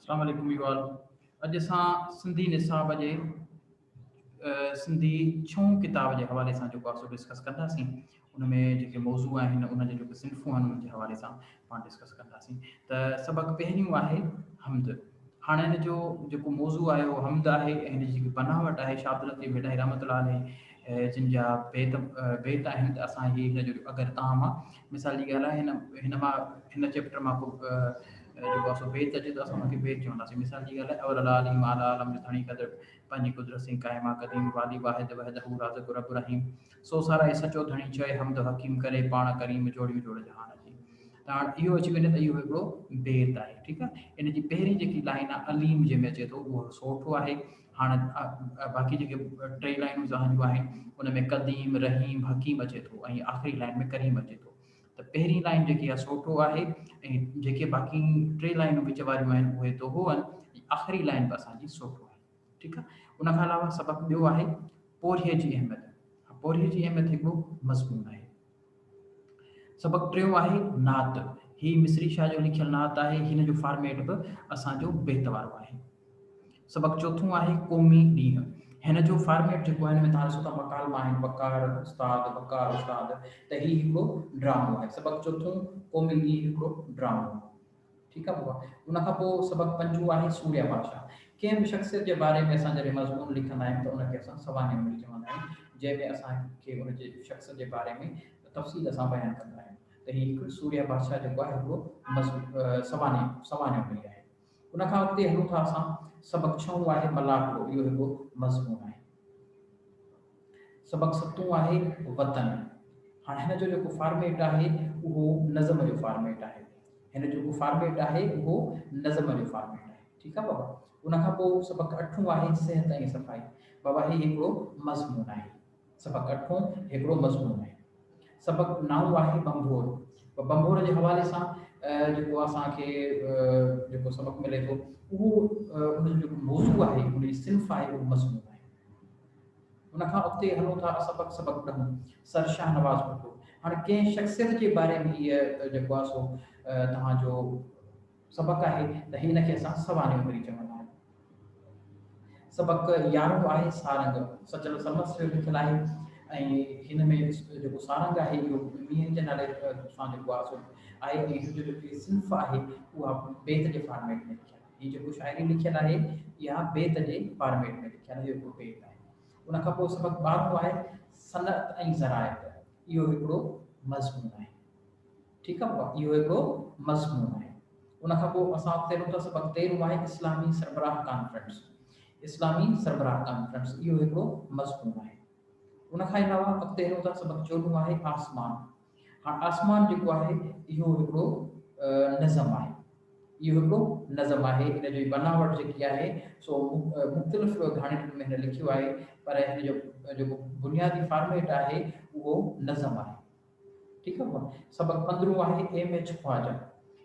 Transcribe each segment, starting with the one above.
السلام عليڪم ويو آل اڄ اسان سنڌي نصاب جي سنڌي ڇهون ڪتاب جي حوالي سان جيڪو آسو ڊسڪس ڪنداسين ان ۾ جيڪي موضوع آهن ان جي جيڪي صنفون آهن ان جي حوالي سان پاڻ ڊسڪس ڪنداسين ته سبق پهريون آهي حمد هاڻ هن جو جيڪو موضوع آهي اهو حمد آهي ۽ هن جي جيڪي بناوٽ آهي شاهه عبداللطيف ميڊاهي رحمت الله عليه جن جا بيت بيت آهن ته اسان هي هن جو اگر تان مان مثال جي ڳالهه آهي هن هن مان هن چيپٽر مان کو جيڪو اسو بيت اچي ته اسان ان کي بيت چونداسين مثال جي ڳالهه اول العالي مال عالم جو ڌڻي قدر پنهنجي قدرت سين قائما قديم والي واحد وحده رازق رب رحيم سو سارا اي سچو ڌڻي چئي حمد و حڪيم ڪري پاڻ ڪريم جوڙيون جوڙ جهان جي ته هاڻ اهو اچي وڃي ته اهو هڪڙو بيت آهي ٺيڪ آهي ان جي پهرين جيڪي لائين آهي عليم جنهن ۾ اچي ٿو اهو سوٺو آهي هاڻ باقي جيڪي ٽي لائنون زهن جون آهن ان ۾ قديم رحيم حڪيم اچي ٿو ۽ آخري لائن ۾ ڪريم اچي ٿو ته پهرين لائن جيڪي آهي سوٺو آهي ۽ جيڪي باقي ٽي لائنون وچ واريون آهن اهي دوهو آهن آخري لائن به اسان جي سوٺو آهي ٺيڪ آ ان کان علاوه سبق ٻيو آهي پورهيي جي اهميت پورهيي جي اهميت هڪ ٻيو مضمون آهي سبق ٽيون آهي نعت هي مصري شاهه جو لکيل نعت آهي هن جو فارميٽ به اسان جو بيت وارو آهي سبق چوٿون آهي قومي ڏينهن هن جو فارميٽ جيڪو آهي ۾ تاسو ته مقالما آهن بڪار استاد بڪار استاد ته هي هڪڙو ڊرامو آهي سبق چوٿون قومي ڏينهن هڪڙو ڊرامو ٺيڪ آ بابا ان کان پوء سبق پنجون آهي سوريا بادشاهه. ڪنهن به شخصيت جي باري ۾ اسان جڏهن مضمون لکندا آهيون ته ان کي اسان سوانح عمري چوندا آهيون جنهن ۾ اسان کي ان جي شخص جي باري ۾ تفصيل سان بيان ڪندا آهيون ته هي هڪ سوريا بادشاهه جيڪو آهي هڪڙو سوانح سوانح عمري آهي ان کان اڳتي هلون ٿا اسان سبق ڇهون آهي ملاح هڪڙو اهو هڪڙو مضمون آهي. سبق ستون آهي وطن. هاڻ هن جو جيڪو فارميٽ آهي اهو نظم جو فارميٽ آهي. هن جيڪو فارميٽ آهي اهو نظم جو فارميٽ آهي. ٺيڪ آهي بابا. ان کان پوء سبق اٺون آهي صحت ۽ صفائي. بابا هي هڪڙو مضمون آهي. سبق اٺون هڪڙو مضمون آهي. سبق نائون آهي ڀنڀور. ڀنڀور جي حوالي سان جيڪو اسان کي جيڪو سبق ملي ٿو اهو ان جو جيڪو موضوع آهي ان جي صنف آهي اهو مضمون آهي. ان کان اڳتي هلون ٿا سبق سبق ڏهون سر شاهنواز ڀٽو هاڻي ڪنهن شخصيت جي باري ۾ هيء جيڪو آهي سو توهان جو سبق آهي ته هن کي اسان سوانح عمري چوندا آهيون سبق يارهون آهي سارنگ سچل سمس جو لکيل آهي ۽ هن ۾ جيڪو سارنگ آهي اهو مينهن جي نالي سان جيڪو آهي سو آهي ۽ هن جو جيڪي صنف آهي اها بيت جي فارميٽ ۾ لکيل آهي هي جيڪو شاعري لکيل آهي اها بيت جي فارميٽ ۾ لکيل اهو هڪڙو بيت آهي. ان کان پوء سبق ٻارهون آهي صنعت ۽ زراعت اهو هڪڙو مضمون آهي ٺيڪ آهي اهو هڪڙو مضمون آهي ان کان پوء اسان اڳتي هلون ٿا سبق تيرهون آهي اسلامي سربراهه ڪانفرنس اسلامي سربراهه ڪانفرنس اهو هڪڙو مضمون آهي ان کان علاوه اڳتي هلون ٿا سبق چوڏهون آهي آسمان هاڻ آسمان جيڪو آهي اهو هڪڙو نظم آهي. اهو هڪڙو نظم آهي. ان جي بناوٽ جيڪي آهي سو مختلف گهاڻيٽن ۾ هن لکيو آهي پر هن جو جيڪو بنيادي فارميٽ آهي اهو نظم آهي. ٺيڪ آهي. سبق پندرهون آهي M H Khwaja.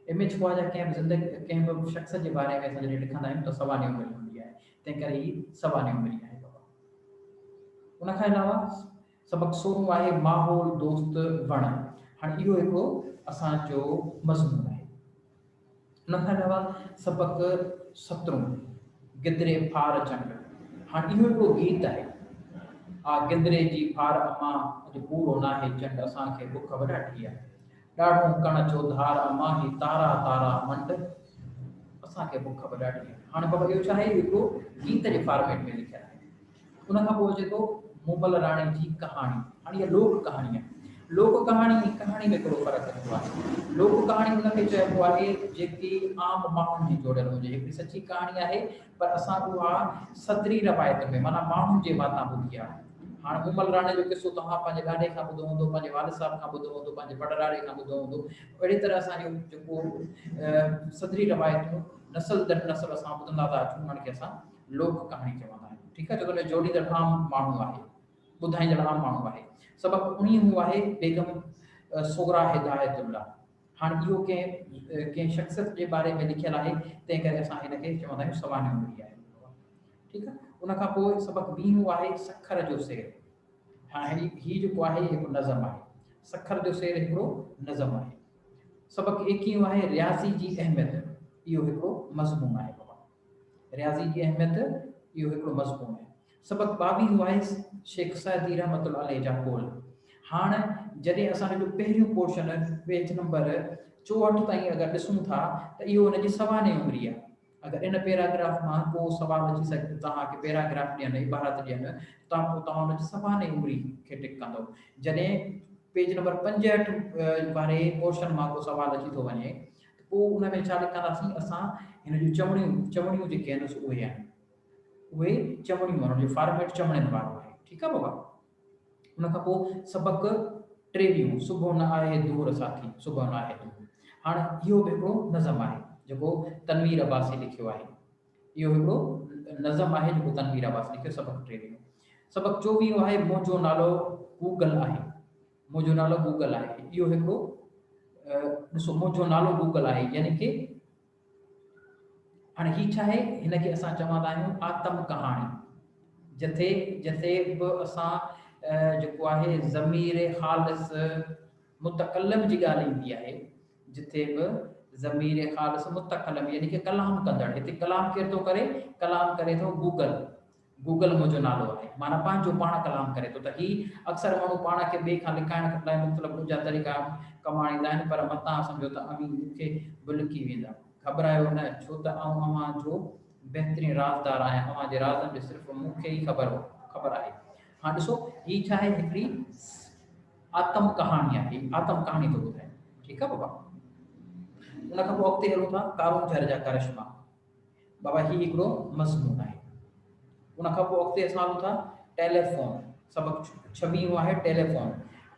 M H Khwaja ڪنهن به زندگي ڪنهن به شخص جي باري ۾ اسان جڏهن لکندا آهيون ته سوانح عمر هوندي آهي. تنهن ڪري هي سوانح عمر آهي. ان کان علاوه سبق سونهون آهي ماحول دوست وڻ هاڻ اهو هڪ اسان جو مضمون آهي ان کان علاوه سبق سترون گدري ڦار چنڊ هاڻ اهو هڪ گيت آهي آ گدري جي ڦار اما اڄ پورو ناهي چنڊ اسان کي بک وڏاٺي آهي ڏاڙهون ڪڻ چوڌار اما هي تارا تارا منڊ اسان کي بک وڏاٺي آهي هاڻ بابا اهو ڇا آهي اهو گيت جي فارميٽ ۾ لکيل آهي ان کان پوء اچي ٿو مومل راڻي جي ڪهاڻي. هاڻي اها لوڪ ڪهاڻي آهي. لوڪ ڪهاڻي ۽ ڪهاڻي ۾ ڪهڙو فرق هوندو آهي؟ لوڪ ڪهاڻي ان کي چئبو آهي جيڪي عام ماڻهن جي جوڙيل هجي. هڪڙي سچي ڪهاڻي آهي پر اسان اها صدري روايت ۾ معنيٰ ماڻهن جي واتان ٻڌي آهي. هاڻ مومل راڻي جو قصو توهان پنهنجي ڏاڏي کان ٻڌو هوندو، پنهنجي والد صاحب کان ٻڌو هوندو، پنهنجي پڙڏاڏي کان ٻڌو هوندو. اهڙي طرح اسان جو جيڪو صدري روايتون نسل در نسل اسان ٻڌندا ٿا اچون ان کي اسان لوڪ ڪهاڻي چوندا آهن ٺيڪ آهي جيڪو هن جوڙيندڙ عام ماڻهو آهي ٻڌائيندڙ عام ماڻهو آهي سبق انهي هو آهي بيگم صغرا هدايت الله هاڻ اهو ڪنهن ڪنهن شخصيت جي باري ۾ لکيل آهي تنهن ڪري اسان هن کي چوندا آهيون سوانح عمري آهي ٺيڪ آهي ان کان پوء سبق ٻي هو آهي سکر جو سير هاڻي هي جيڪو آهي هڪ نظم آهي سکر جو سير هڪڙو نظم آهي سبق ايڪيون آهي رياضي جي اهميت اهو هڪڙو مضمون آهي رياضي جي اهميت، اهو هڪڙو مضمون آهي. سبق ٻاويهون آهي شيخ سعدي رحمة الله عليه جا قول. هاڻ جڏهن اسان ان جو پهريون پورشن پيج نمبر چوهٺ تائين اگر ڏسون ٿا ته اهو ان جي سوا نئين عمري آهي. اگر ان پيراگراف مان ڪو سوال اچي سگهي ته توهان کي پيراگراف ڏين، عبارت ڏين ته پوء توهان ان جي سوا نئين عمري کي ٽڪ ڪندؤ. جڏهن پيج نمبر پنجهٺ واري پورشن مان ڪو سوال اچي ٿو وڃي. ته پوء ان ۾ ڇا لڪنداسين اسان؟ هن جون چوڻيون، چوڻيون جيڪي آهن سو اهي آهن. اهي چوڻيون آهن، ان جو فارميٽ چوڻين وارو آهي. ٺيڪ آهي بابا. ان کان پوء سبق ٽيويهون، صبح نه آهي دور ساٿي، صبح نه آهي دور. هاڻ اهو به هڪڙو نظم آهي، جيڪو تنوير عباسي لکيو آهي. اهو هڪڙو نظم آهي، جيڪو تنوير عباسي لکيو، سبق ٽيويهون. سبق چوويهون آهي، منهنجو نالو گوگل آهي. منهنجو نالو گوگل آهي. اهو هڪڙو ڏسو منهنجو نالو گوگل آهي يعني ڪي هاڻي هي ڇا آهي هن کي اسان چوندا آهيون آتم ڪهاڻي جتي جتي به اسان جيڪو آهي ضمير خالص متڪلم جي ڳالهه ايندي آهي جتي به ضمير خالص متڪلم يعني ڪي ڪلام ڪندڙ هتي ڪلام ڪير ٿو ڪري ڪلام ڪري ٿو گوگل گوگل منهنجو نالو آهي معنيٰ پنهنجو پاڻ ڪلام ڪري ٿو ته هي اڪثر ماڻهو پاڻ کي ٻئي کان لڪائڻ لاء مختلف ڏوجها طريقا ڪم آڻيندا آهن پر متان سمجهو ته اوهين مون کي به لڪي ويندا. گهٻرايو نه ڇو ته آئون اوهان جو بهترين رازدار آهيان اوهان جي رازن جو صرف مون کي ئي خبر خبر آهي. هاڻ ڏسو هي ڇا آهي هڪڙي آتم ڪهاڻي آهي هي آتم ڪهاڻي ٿو ٻڌائي ٺيڪ آهي بابا ان کان پوء اڳتي هلون ٿا ڪارونجهر جا ڪرشما بابا هي هڪڙو مضمون آهي ان کان پوء اڳتي اسان هلون ٿا ٽيليفون سبق ڇويهون آهي ٽيليفون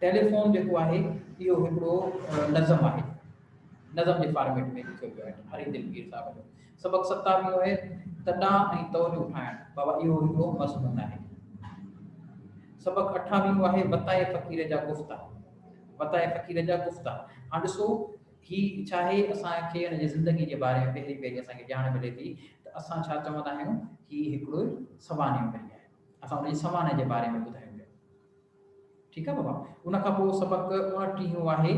ٽيليفون جيڪو آهي اهو هڪڙو نظم آهي نظم جي فارميٽ ۾ لکيو ويو آهي هري دلگير صاحب جو سبق ستاويهون آهي تڏا ۽ تو جو ٺاهڻ بابا اهو هڪڙو مضمون آهي سبق اٺاويهون آهي وتائي فقير جا گفتا وتائي فقير جا گفتا هاڻ ڏسو هي ڇاهي؟ اسان کي هن جي زندگي جي باري ۾ پهرين پهرين اسان کي ڄاڻ ملي ٿي ته اسان ڇا چوندا آهيون، هي هڪڙو سوانحيو پئي آهي. اسان ان جي سوانح جي باري ۾ ٻڌايو ويو. ٺيڪ آهي بابا. ان کان پوء سبق اڻٽيهون آهي.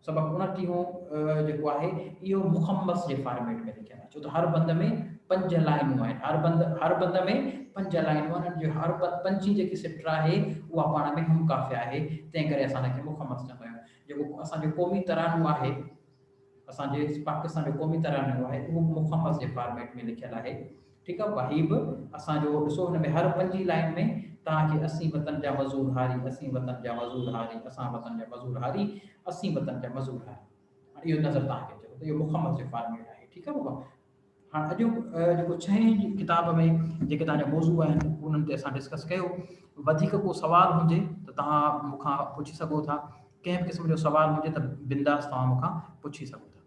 سبق اڻٽيهون جيڪو آهي اهو مخمس جي فارميٽ ۾ لکيل آهي. ڇو ته هر بند ۾ پنج لائنون آهن. هر بند هر بند ۾ پنج لائنون آهن ان جو هر بند پنجين جيڪي سٽر آهي اها پاڻ ۾ هم قافيه آهي تنهن ڪري اسان ان کي مخمس چوندا آهيون جيڪو اسان جو قومي ترانو آهي اسان جي پاڪستان جو قومي ترانو آهي اهو مخمس جي فارميٽ ۾ لکيل آهي ٺيڪ آهي وهي به اسان جو ڏسو ان ۾ هر پنجين لائن ۾ توهان کي اسين وطن جا مزور هاري اسين وطن جا مزور هاري اسان وطن جا مزور هاري اسين وطن جا مزور هاري هاڻ اهو نظر توهان کي اچي ٿو ته اهو مڪمل سي فارميٽ آهي ٺيڪ آهي بابا هاڻ اڄو جيڪو ڇهين ڪتاب ۾ جيڪي توهان جا موضوع آهن انهن تي اسان ڊسڪس ڪيو وڌيڪ ڪو سوال هجي ته توهان مون کان پڇي سگهو ٿا ڪنهن به قسم جو سوال هجي ته بنداس توهان مون کان پڇي سگهو ٿا